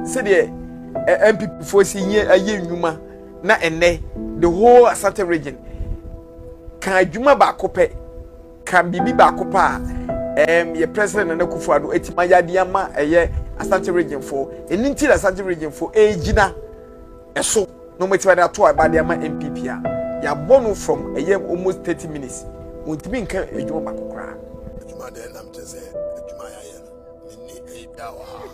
sɛdeɛ NPP foɔ si yɛ ayɛ nnwuma na ɛnɛ the whole Asante region ka adwuma baako pɛ ka biribi baako pɛ a ɛɛm yɛ president Nana Akufo-Addo eti ma yade ama ɛyɛ Asante region foɔ ɛni nti na Asante region foɔ ɛɛgyina ɛso na wɔn ɛtumi de ato a ɛbade ama NPP a yɛabɔ no from ɛyɛ almost thirty minutes wɔn ntumi nka adwuma baako koraa.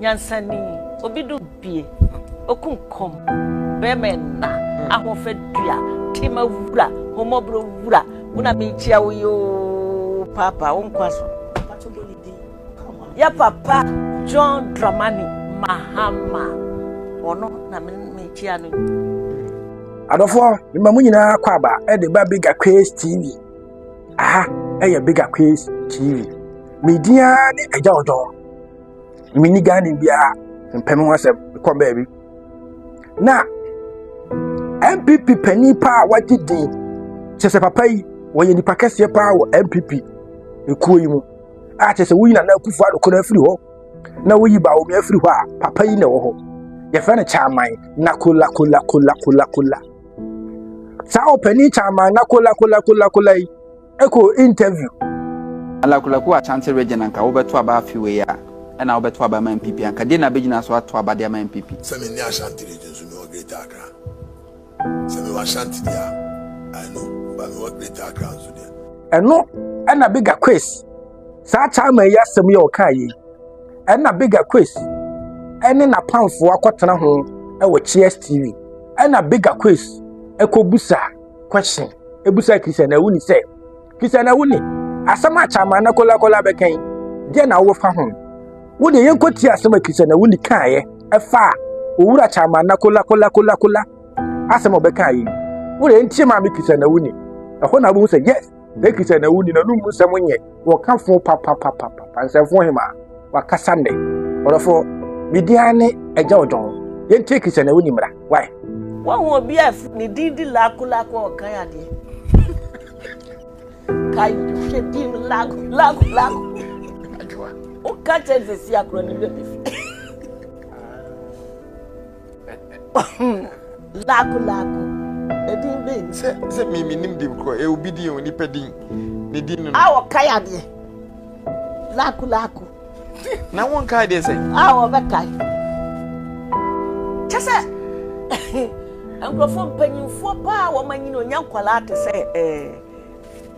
Nyansani, obi do bie, oku nkɔm, bɛrima ɛna, ahoɔfɛ dua, tema wura, homɔborɔ wura, wo na mekyia wo yoo, paapa, wo nkwa so. Yɛ papa John Dramani Mahama, ɔno na mekyia no. Adɔfoɔ, mema mo nyinaa kɔ aba de ba Big Aquarius TV. aha ɛyɛ big akwes tv me din ara ne agya ɔdɔ menni ghane biara mpɛ me ho asɛm mekɔ baabi na mpp panin pa a wagye din kyɛ sɛ papa yi wɔyɛ nipa kɛseɛ paa wɔ mpp ekuo yi mu a kyɛ sɛ woyi nana akufo adokoro afiri hɔ na woyi baomi afiri hɔ a papa yi na ɛwɔ hɔ yɛfrɛ no kyaman na kola kola kola kola kola saa ɔpanin kyaman lakolakolakolakolakola yi kɔ interview. alakolako Ashanti region anka wobɛto aba afi wei a ɛna wobɛto aba ama MPP anka deɛ na bɛgyina so ato aba de ama MPP. Sɛ me ne Ashanti region so mewɔ Greater Accra. Sɛ mewɔ Ashanti deɛ a, I know, ba mewɔ Greater Accra nso deɛ. Ɛno ɛna Bigger Quiz. saa chairman yi asɛm yi a ɔkaa yei ɛna bigger quiz ɛne n'apamfoɔ akɔtena ho ɛwɔ cheers tv ɛna bigger quiz ɛkɔbusa question ɛbusa christian awuni sɛ christian awuni asɛm a chairman na kɔlakɔla bɛka yi deɛ na wofa ho wo deɛ yɛnkɔ tie asɛm a christian awuni kaeɛ ɛfa a owura chairman na kɔlakɔlakɔlakɔla asɛm a ɔbɛka yi wo deɛ ntie maame christian awuni ɛhɔ na wobɛhu sɛ yes Leki sɛ na wonni na numu nsɛm nyɛ wɔka fo papapapapa nsɛmfo hema wakasa nnɛ ɔdɔfo media ne agya ɔdɔn yɛn teki sɛ na wonni mmara wae wɔn ho obi a ne din di laako laako a ɔkan adeɛ ka hwɛ din no laako laako laako woka kyɛ sɛ si akorɔ ne bɛbɛ fi laako laako ɛdin bɛn. sɛ sɛ mi mi nim dim korɔ ɛ obi din o nipa din ne din no. a wɔka yɛ adeɛ laako laako. na wɔn ka adeɛ sɛ. a wɔbɛka yi kyɛ sɛ nkurɔfoɔ mpanyinfoɔ paa wɔn anyini onya nkwadaa te sɛ ɛɛ.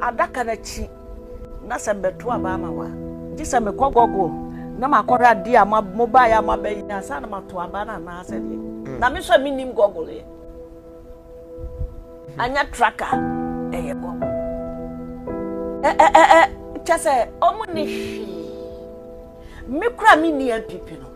adaka no akyi na sɛ mbɛto aba ama wo a, gye sɛ mekɔ Google na makɔhwɛ adeɛ a mobaeɛ a moabɛyɛ ansa na mato aba no anaasɛ deɛ mm. na me nso a mennim Google yɛ anyɛ traka ɛyɛ Google kyɛ sɛ ɔmo ne hwee me kora menni apipi no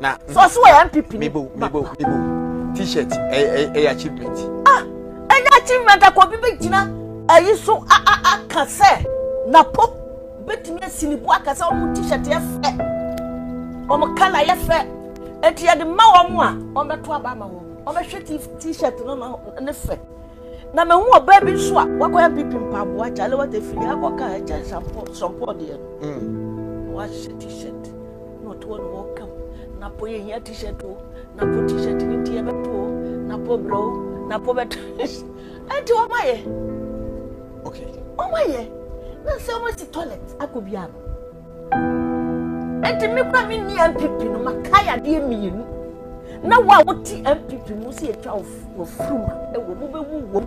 na so ɔso wɔ npp ni mebo mebo mebo t-shirt ɛyɛ ɛyɛ achievement. ah ɛnyɛ achievement akɔ obi bɛ gyina ɛyi so a a a ka sɛ napo bɛtumi asi ne bu aka sɛ wɔn t-shirt yɛ fɛ wɔn kala yɛ fɛ eti yɛde ma wɔn a wɔn bɛto aba ama wɔn wɔn bɛhwɛ t-shirt no na ne fɛ na mɛ hu ɔbaa bi nso a wakɔ npp mpaboa kyale wɔte firi akɔ kaa ɛkyɛ shampoo shampoo deɛ no mm. wahyɛ t-shirt. na ɔtoɔ na wɔka mu na po yɛhia t-shirt o na po t-shirt ne deɛ bɛto o na po brɛ o na po bɛto ɛnti wɔma yɛ wɔma yɛ na sɛ wɔasi toilet akɔ bi ano ɛnti me kora me nni mpp no makae adeɛ mmienu na wo a wote mpp mu sɛ yɛtwa wɔfuruma ɛwɔ mu bɛwu wom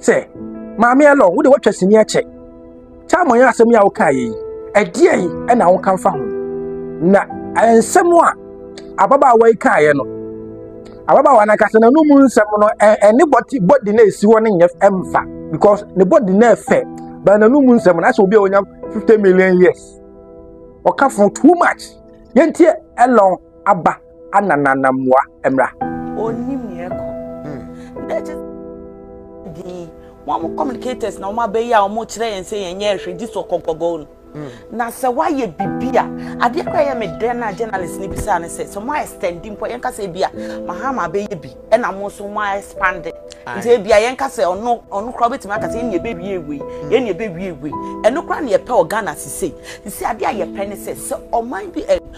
sɛ maame ɛlɔ wo de watwa sini ɛkyɛ tam ɔyɛ asɛm yi a wokaa yɛ yi ɛdeɛ yi ɛna woka mfa ho na nsɛm a ababaawa yi kaeɛ no ababaawa no ankasa na no mu nsɛm no ɛne bɔdi na ɛsi hɔ no nyɛ ɛmfa because ne bɔdi na ɛfɛ bɛn na no mu nsɛm no asɛ obi a ɔnya 50 million years ɔka fo too much yɛntie ɛlɔn aba ana nanammoa mmra. Onim nea ɛkɔ. Na ɛkyɛ dii wɔn communicators na wɔn abɛyi a wɔn kyerɛ yɛn sɛ yɛn nyɛ ɛhwɛ gye so kɔnkɔbɔɔ no. Hmm. Na sɛ wayɛ bibi a adeɛ kora yɛ me dɛn na journalist no bisaa ne sɛ sɛ mo extend mpo yɛn kasa ebi a mahama abɛyɛ bi ɛna mo nso mo expand nti ebi a yɛn kasa ɔno ɔno kora ɔbɛtumi akasa yɛn na ɛbɛwie ewie yɛn na ɛbɛwie ewie ɛno kora na yɛpɛ wɔ Ghana sise sise adeɛ a yɛpɛ ne sɛ sɛ ɔman bi ɛ.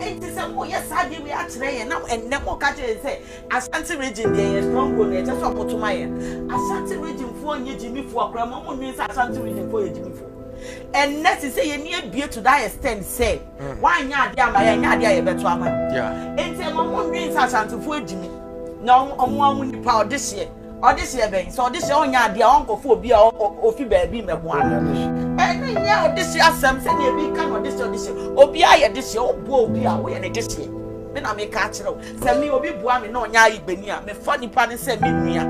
Enti sɛ moyɛ saa de wei akyerɛ yɛn na ɛnnɛ moka kyerɛ yɛn sɛ Ashanti region deɛ yɛ stronghold na ɛkyɛ sɛ ɔmo to ma yɛn. Ashanti region foɔ nyɛ gyimifoɔ koraa ma ɔmo nwen sɛ Ashanti region foɔ yɛ gyimifoɔ. Ɛnnɛ te sɛ yɛn ni abue to that extent sɛ mm. wanyɛ adeɛ ama yɛn nyɛ adeɛ a yɛbɛto ama no. Enti ɛma ɔmo nwen sɛ Ashantifoɔ agyimi na ɔmo ɔmo ɔmo nipa ɔdehyeɛ. Ɔdesrɛ bɛn? Sɛ ɔdesrɛ ɔnyɛ adeɛ a, ɔnkɔfa obi a ɔfi baabi mmɛboa no. Ɛno nyɛ ɔdesrɛ asɛm sɛdeɛ ebi ka no, ɔdesrɛ ɔdesrɛ. Obiara yɛ desrɛ. Woboa obi a, woyɛ ne desrɛ. Me na meka akyerɛ wo. Sɛ me, obi boa me na ɔnyɛ ayigbani a, mefa nipa no sɛ me nua.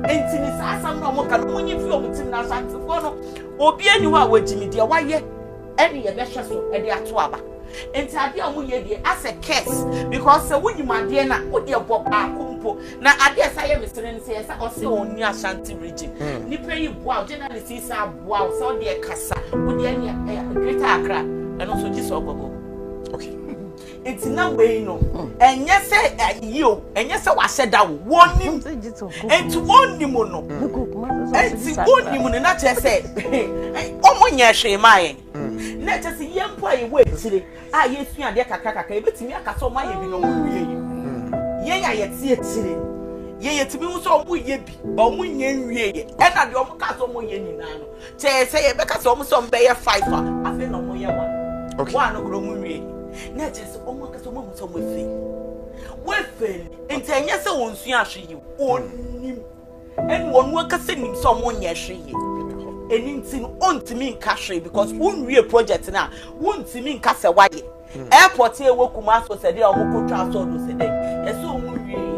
Enti ne saa asɛm no a wɔka no, monyi mfiri wɔn tirim. Na Asantefoɔ no, obiara nni hɔ a wagye me. Deɛ wayɛ. Ɛne yɛbɛhwɛ so de ato aba. Nti adeɛ a wɔyɛ deɛ asɛ curse because sɛ wonim adeɛ no a wodeɛ bɔ baako mpo na adeɛ ɛsa yɛ mesere no sɛ yɛsa ɔse ɔnni Ashanti region hmm. nipa yi boa journalist yi sa boa sɛ ɔdeɛ kasa wodeɛ ne Greater Accra ɛno nso gye sɛ ɔgɔgɔ okay Nti na wei no ɛnyɛ sɛ ayi o ɛnyɛ sɛ wahyɛ da o wɔnim nti wɔnim no nti wɔnim no na kyerɛ sɛ wɔn nyɛ hwee maa yɛn na kyerɛ sɛ yɛn mpo a yɛwɔ akyire a yɛsua adeɛ kakra kakra yɛbɛtumi aka sɛ wɔn ayɛ bi na wɔn wie yi yɛn a yɛte akyire yɛyɛ tumi ho sɛ wɔn yɛ bi ba wɔn nyɛ nwie yɛ ɛna deɛ wɔn ka sɛ wɔn yɛ nyinaa no Sɛ sɛ yɛbɛka sɛ wɔn sɛ wɔn bɛyɛ five a, afei na wɔn yɛ one. Okay. Wɔn a no kura wɔn nwie. Na ɛkyɛ sɛ wɔn akasa wɔn ahu sɛ wɔn efe. Wɔn efe ni. Nti ɛnyɛ sɛ wɔn nsu ahwe yi. Wɔn nim. Ɛni wɔn wɔn akasa nim sɛ wɔn nyɛ ahwe yi. Ɛni nti no wɔn ntumi nka hwee because wɔn nwie project na wɔn ntumi nka sɛ wɔayɛ. Hmm. Airport yɛ wɔ Kumasi sɛ de a wɔn kɔ twa asɔɔdo sɛ dɛ. Ɛsɛ wɔn nwie.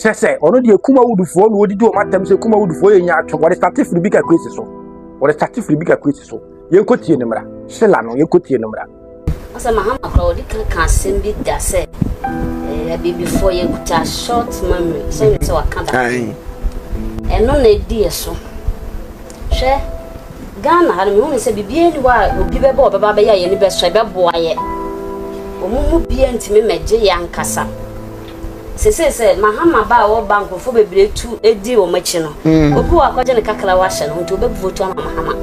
kyerɛ sɛ ɔno deɛ kum awudifoɔ na ɔdidi wɔn atɛm sɛ kum awudifoɔ yɛ nya atwom wɔde sate firi bi kakra si so wɔde sate firi bi kakra si so yɛnkɔ tie ne mmara hyela no yɛnkɔ tie ne mmara. ɔsɛ mahama kora ɔde ka ka asɛm bi da sɛ eh, abibifoɔ yɛkuta short memory sɛ ne sɛ waka ba ɛno na ɛdi yɛ so hwɛ ghana ha no mehunu sɛ biribiaa ni hɔ a obi bɛbɛ ɔbɛba bɛyɛ a yɛni bɛsɔ ɛbɛboa yɛ ɔmo mu bia ntumi mɛgye yɛ ankasa Sesei sɛ Mahama ba a ɔwɔ ba a nkurɔfoɔ bebree tu di wɔn akyi no, obi wɔ hɔ akɔgye ne kakrawa ahyɛ ne ho nti ɔbɛ vote ama Mahama.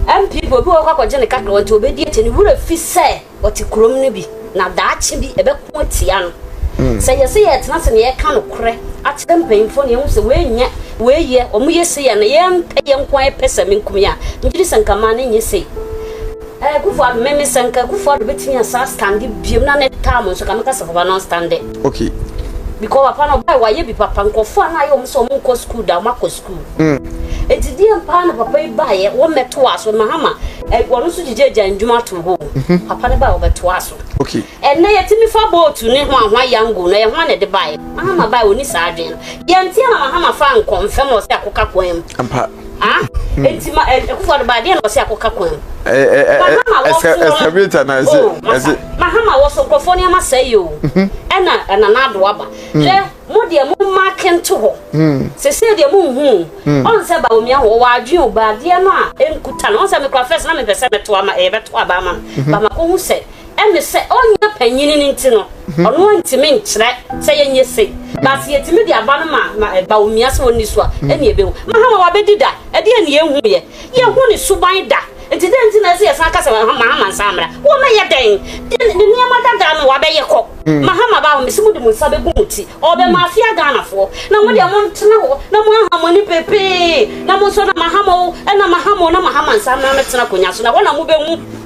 NPP obi wɔ hɔ kɔ akɔgye ne kakrawa nti ɔbɛdi akyi. Ne werɛ fi sɛ ɔte kurom no bi na daakye bi ɛbɛko atia no. Sɛ yɛse yɛretena ase na yɛreka nokorɛ akyerɛ mpanyimfoɔ na yɛhu sɛ wei nyɛ, wei yɛ, wɔn yɛ sei a na yɛn pɛ yɛn nko ara yɛpɛ sɛ menkum yɛn a, megye di sɛ nka mmaa no nyɛ sei. Ɛɛ Kufu Ado me me sɛ nka Kufu Ado betumi asa stande biom na ne tam nso ka meka sɛ papa no stande. Okay. Because papa no ɔbaa wayɛ bi papa nkurɔfoɔ a na ayɛ wɔn sɛ wɔn nkɔ sukuu da wɔn akɔ sukuu. Mm. Eti deɛ mpaa na papa yi baa yɛ wɔn mɛto aso mahama ɛ wɔn nso gyigye agya ndwuma to hɔ. Mhm. Papa no baa wɔbɛto aso. Okay. Ɛnna yɛ ti mi fa bootu ne ho ahoa yango na yɛ ho na ɛde baa yɛ mahama baa wɔn ni saa adwene no yɛn ti na mahama fa nkɔ nfɛm ɔsɛ akokakwan mu. Ampa. Ah, hmm. eti ma eh, ɛkufu ɔdeba adeɛ na ɔsi akɔka kwan mu. Eh, eh, mahama wɔ so no ɛsɛbita na ɛsɛ oh, ɛsɛ. mahama wɔ so nkurɔfoɔ nneɛma sɛ yi o mhm. ɛna ɛna n'ado aba hmm. hwɛ mo deɛ mo mma kente hɔ hmm. sese deɛ mo nhu ɔn sɛ ba omi ahɔ wɔ adwene o ba adeɛ no a nkuta no ɔn sɛ mekura fɛs na mepɛ sɛ mɛto ama ɛyɛ bɛto aba ama no mhm. ba ma ko hu sɛ. Ɛne sɛ, ɔnyɛ panyin no nti no, ɔno ara ntumi nkyerɛ sɛ yɛnyɛ sei. But sɛ yɛtumi de aba no ma ma ɛba omia sɛ ɔnni so a, ɛne yɛbɛhu. Mahama wabɛdi da? Ɛdeɛn ne yɛnhuiɛ? Yɛnhu ne suban da. Nti dɛn nti na ɛsɛ yɛsan ka sɛ Mahama nsan mmra? Wɔmmɛyɛ dɛn? Deɛ ne nneɛma dada no wabɛyɛ kɔ. Mahama ba hɔ, mese mode mo nsa bɛgu mo ti. Ɔrebɛmafia Ghanafoɔ. Na mo deɛ montena hɔ na moaha mo ani pepee na monsɔ na Mahama o, ɛna Mahama o, na Mahama nsan mmra mmɛtena akonnwa so na hɔ na mobɛhu.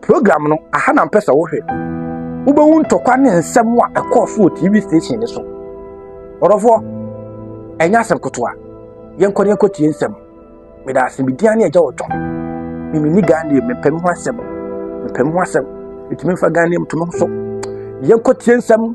Program no, aha na mpɛ sɛ wohwɛ. Wobɛhu ntɔkwa ne nsɛm a ɛkɔɔ so wɔ TV station no so. Ɔdɔfoɔ, ɛnyɛ asɛm kotoa. Yɛnkɔ ne yɛnkɔ tie nsɛm. Meda ase, medin ane agya wɔ twɔn. Mimini Gandhi, mepɛ me ho asɛm. Mepɛ me ho asɛm. Metumi mfa Gandhi mto me ho so. Yɛnkɔ tie nsɛm.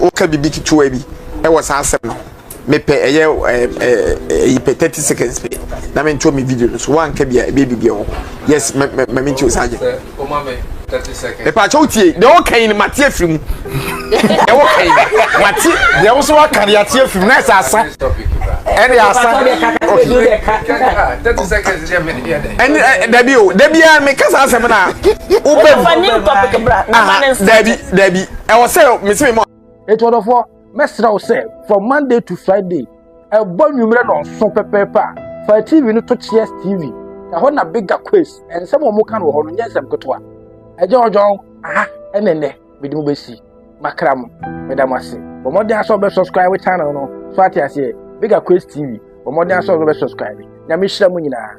woka biribi ketewa bi ɛwɔ saa asɛm no mepɛ ɛyɛ ɛyi pɛ thirty seconds pɛ na me nto me video no so wanka bia ebe bibia wɔ yes ma ma me nti o saa gye mepɛ akyɛ wo tie deɛ woka yi no mate afiri mu deɛ woka yi mate deɛ wo so waka deɛ ate afiri mu na ɛsɛ asa ɛne asa ɛne dabi o dabi a meka saa asɛm no a wobɛm dabi dabi ɛwɔ sɛ mese me mɔ. Eti ɔdɔfoɔ, mɛsrɛ wo sɛ from Monday to Friday, ɛbɔ nwummerɛ na ɔso pɛpɛɛpɛ a, fa TV no to Cheers TV. Ɛhɔ na Bigga Quays, nsɛm a wɔka no wɔ hɔ no nyɛ nsɛm ketewa. Agya Ɔdwɔn, aha ɛna ɛnɛ mede mo bɛsi makra mo. Meda mo ase. Bɔ mmɔden asɛ ɔbɛ subscribe channel no. So ate aseɛ? Bigga Quays TV. Bɔ mmɔden asɛ ɔbɛ subscribe. Nyame nhyira mo nyinaa.